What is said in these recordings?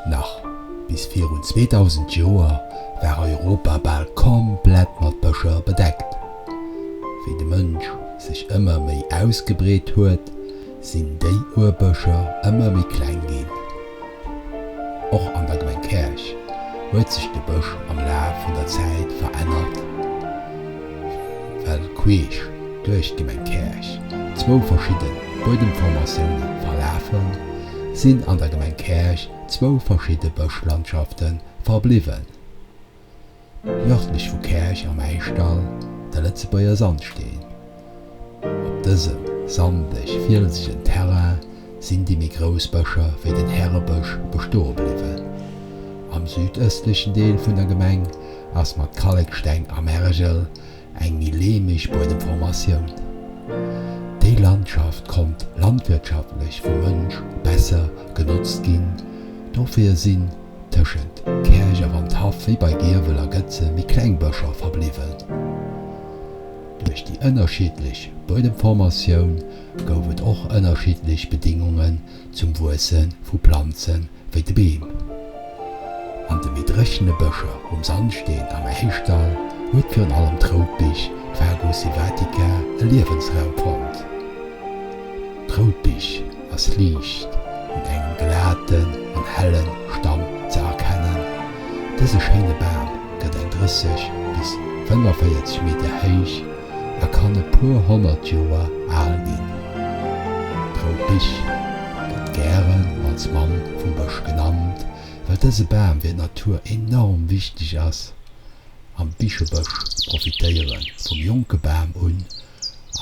Nach bis virun 2000 Joer war Europa bal komplett mat Bëscher bedeckt. Wéi de Mënsch sech ëmmer méi ausgebreet huet, sinn déi Urbëscher ëmmer méi kleng ginn. Och an der Gemeng Käerch huet sech de Bësch am Laf vun der Zäit verännert. well queesch duerch d'Gemeng Käerch zwou verschidde Buedemformatioune verlafen, sinn an der Gemeng Käerch zwou verschidde Bëschlandschafte verbliwwen, Nërdlech vu Käerch am Äischdall de Lëtzebuerger Sandsteen, Op dësem sandeg fielsegen Terrain sinn déi méi grouss Bëscher wéi den Härebësch bestoe bliwwen. Am südëstlechen Deel vun der Gemeng ass mat Kalleksteng a Mergel eng méi leemeg Buedemformatioun. Déi Landschaft konnt landwirtschaftlech vum Mënsch besser genotzt ginn, dofir sinn tëschent Käerch a Wandhaff wéi bei Giewel a Gëtze méi kleng Bëscher verbliwwen. Duerch déi ënnerschiddlech Buedemformatioun gouf et och ënnerschiddlech Bedingungen zum Wuesse vu Planze wéi de Beem. An de méi dréchene Bëscher um Sandsteen am Äischdall huet virun allem d'Routbich, Fagus sylvatica, e Liewensraum fonnt. D'Rout Bich ass liicht mat engem glaten an hellen Stamm ze erkennen. Dëse schéine Bam gëtt eng 30 bis 45 Meter héich a kann e puer honnert Joer al ginn. D'Rout Bich gëtt gären als Mamm vum Bësch genannt, well dëse Bam fir d'Natur enorm wichteg ass. Am Bichebësch profitéiere vum jonke Bam un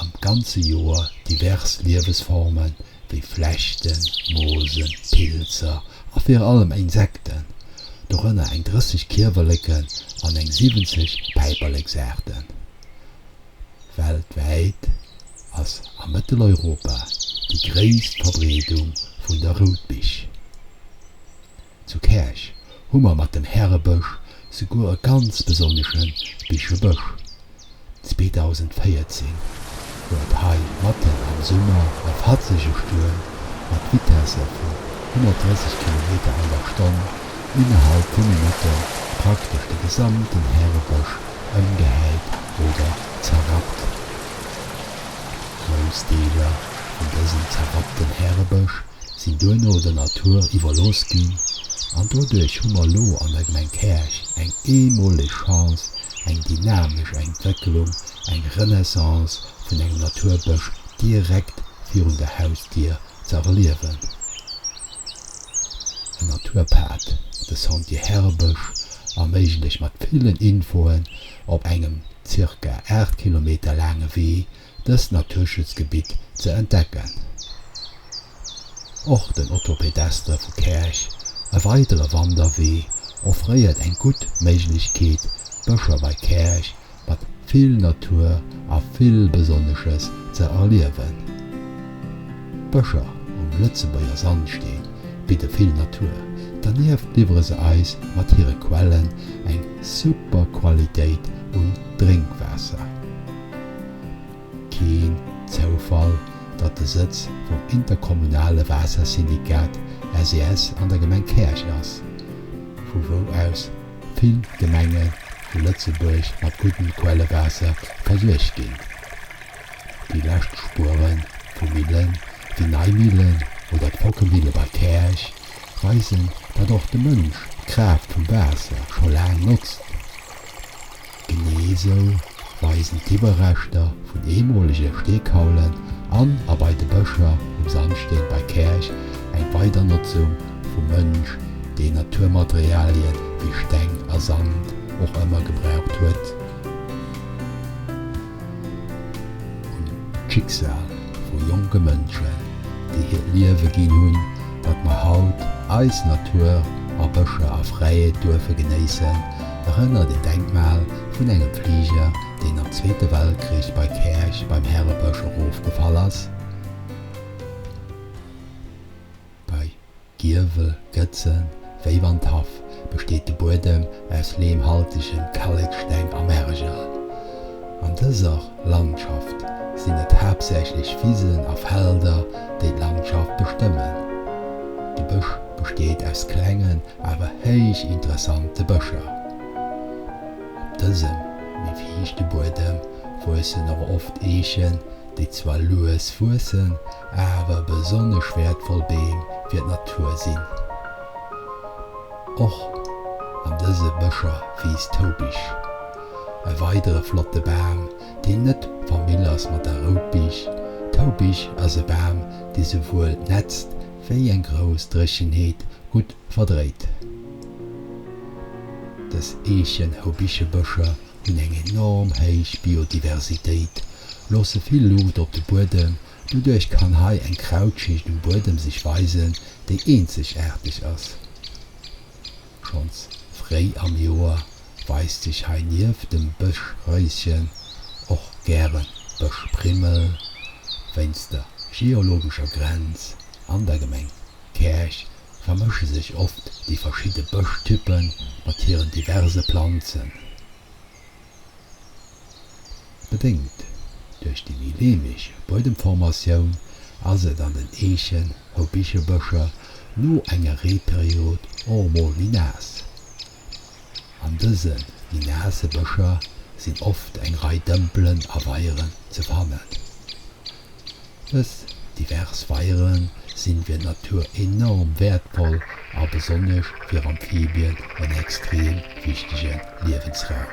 an d'ganze Joer divers Liewesforme wéi Flechten, Moosen, Pilzer a virun allem Insekten, dorënner eng 30 Kiewerleken an eng 70 Päiperleksaarten. Weltwäit ass a Mëtteleuropa déi gréisst Verbreedung vun der Routbich. Zu Käerch hu mer mat dem Härebësch souguer e ganz besonnesche Bichebësch. 2014 huet hei matten am Summer e fatzege Stuerm mat Vitesse vu 130 Kilometer an der Stonn innerhalb vu Minutte praktesch de gesamten Härebësch ëmgehäit oder zerrappt. Grouss Deeler vun dësem zerrappten Härebësch sinn duerno der Natur iwwerlooss ginn an doduerch hu mer elo an der Gemeng Käerch eng eemoleg Chance, eng dynamesch Entwécklung, eng Renaissance vun engem Naturbësch direkt virun der Hausdier ze erliewen. En Naturpad, de Sentier Härebësch, erméiglecht mat villen Infoen op engem zirka 8 Kilometer laange Wee dëst Naturschutzgebitt ze entdecken. Och den Autopedestre vu Käerch, e weidere Wanderwee, offréiert eng gutt Méiglechkeet, d'Bëscher bei Käerch mat vill Natur a vill Besonnesches ze erliewen. D'Bëscher um Lëtzebuerger Sandsteen bidde vill Natur, dernieft liwwere se eis mat hire Quellen eng super Qualitéit un Drénkwaasser. Keen Zoufall, datt de Sëtz vum interkommunale Waassersyndikat, SES, an der Gemeng Käerch ass, vu wou aus vill Gemenge vu Lëtzebuerg mat guddem Quellewaasser versuergt ginn. Déi lescht Spuere vu Millen wéi Neimillen oder d'Fockemille bei Käerch weisen, datt och de Mënsch d'Kraaft vum Waasser scho laang notzt. Genee esou weisen d'Iwwerreschter vun eemolege Steekaulen an a bei de Bëscher um Sandsteen bei Käerch eng Weidernotzung vum Mënsch, deen Naturmaterialie wéi Steng a Sand och ëmmer gebraucht huet. un d'Schicksal vu jonke Mënschen, déi hiert Liewe ginn hunn, datt mer haut eis Natur a Bëscher a Fräiheet duerfe genéissen, erënnert een Denkmal vun engem Fliger, deen am Zweete Weltkrich bei Käerch beim Härebësch erofgefall ass. Giewel, Gëtzen, Wéi wann d'Haff besteet de Buedem aus lehmhaltegen Kalleksteng a Mergel. An dëser Landschaft sinn et haaptsächlech Wisen a Felder, déi d'Landschaft bestëmmen. De Bësch besteet aus klengen awer héich interessante Bëscher. Op dësem méi fiichte Buedem wuessen och oft Eechen, déi zwar lues wuessen, awer besonnesch wäertvoll Beem fir d'Natur sinn. Och an dëse Bëscher wiisst d'Houbich, e weidere flotte Bam, deen net Famill ass mat der Routbich. D'Houbich ass e Bam, dee souwuel nätzt, wéi eng grouss Dréchenheet gutt verdréit. Dës Eechen-Houbichebëscher hunn eng enorm héich Biodiversitéit, loosse vill Luucht op de Buedem, doduerch kann hei eng Krautschicht um Buedem sech weisen, déi eenzegaarteg ass. Schonns fréi am Joer weist sech hei nieft dem Bëschréischen och gäre Bëschprimmel, wéinst der geologescher Grenz an der Gemeng Käerch vermësche sech oft déi verschidde Bëschtyppe mat hiren diverse Planzen. Bedéngt duerch déi méi leemeg Buedemformatioun ass et an den Eechen a Bichebëscher no enger Reeperiod och mol méi naass. An dëse méi naasse Bëscher sinn oft eng Rei Dëmpelen a Weieren ze fannen. Dës divers Weiere sinn fir d'Natur enorm wäertvoll a besonnesch fir Amphibien en extrem wichtege Liewensraum.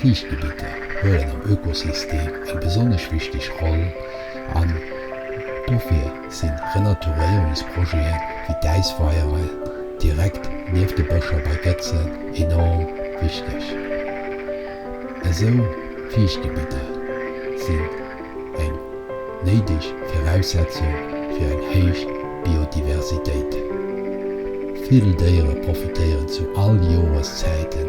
Fiichtgebitter huelen am Ökosystem eng besonnesch wichteg Roll an dofir sinn Renaturéierungsprojete wéi d'Äisweiere direkt nieft de Bëscher bei Gëtzen enorm wichteg. Esou Fiichtgebidder sinn eng néideg Viraussetzung fir eng héich Biodiversitéit. Vill Déiere profitéieren zu all Joreszäite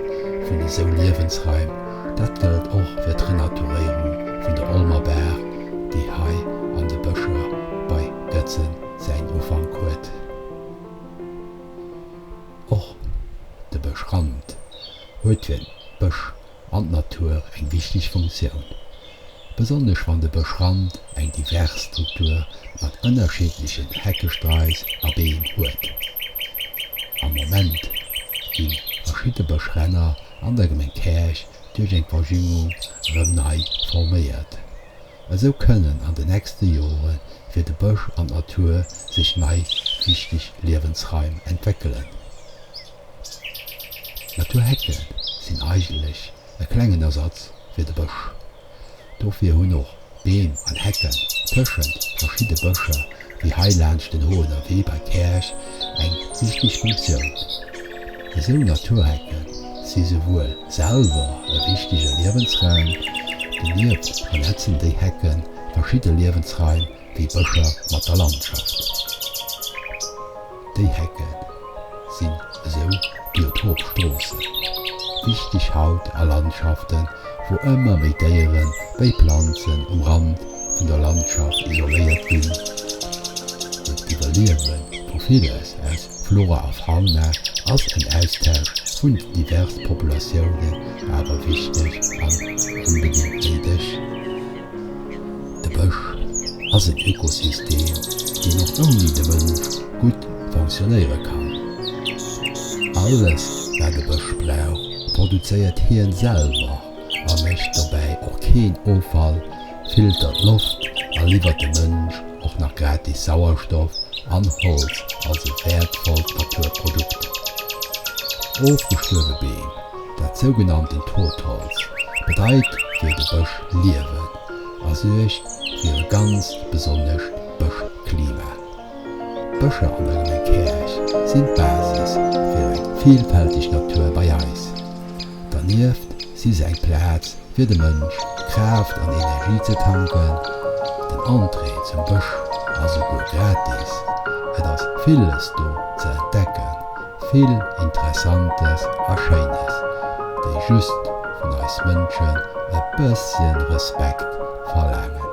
vun esou Liewensraim, dat gëllt och fir d'Renaturéierung vun der Olmer Baach, déi hei an de Bëscher bei Gëtzen säin Ufank huet. Och de Bësch Rand huet hien d'Bësch an d'Natur eng wichteg Funktioun, besonnesch wann de Bëschrand eng divers Struktur mat ënnerschiddlechen Heckesträiss a Beem huet. Am Moment gi verschidde Bëschränner an der Gemeng Käerch duerch eng Verjüngung erëm nei forméiert. Esou kënnen an de nächste Jore fir de Bësch an d'Natur sech nei wichteg Liewensraim entwéckelen. Naturhecke sinn eigentlech e klengen Ersatz fir de Bësch. Dofir hunn och Beem an Hecken tëschent verschidde Bëscher, wéi hei laanscht den Hoener Wee bei Käerch, eng wichteg Funktioun. Esou Naturhecke si souwuel selwer e wichtege Liewensraum, donieft vernetzen déi Hecke verschidde Liewensraim wéi Bëscher mat der Landschaft. Déi Hecke sinn esou Biotopstroosse, wichteg haut a Landschaften, wou ëmmer méi Déieren wéi Planzen um Rand vun der Landschaft isoléiert ginn. Fir d'Iwwerliewe vu villes aus Flora a Fauna ass en Austausch vun den diverse Populatiounen awer wichteg an onbedéngt néideg. De Bësch ass en Ökosystem, deen och ouni de Mënsch gutt fonctionéiere kann. Alles, wat e Bësch brauch, produzéiert hien selwer a mécht dobäi och keen Offall, filtert Loft a liwwert de Mënsch och nach gratis Sauerstoff an Holz als e wäertvollt Naturprodukt. Ofgestuerwe Beem, dat sougenannten Totholz, bedeit fir de Bësch Liewen. a suergt fir e ganzt besonnescht Bëschklima. D'Bëscher an der Gemeng Käerch sinn d'Basis fir eng vilfälteg Natur bei eis. Dernieft si se eng Plaz fir de Mënsch Kraaft an Energie ze tanken. Den Entrée zum Bësch ass souguer gratis. Et ass villes do ze entdecken. Vill Interessantes a Schéines, déi just vun eis Mënschen e bëssche Respekt verlaangen.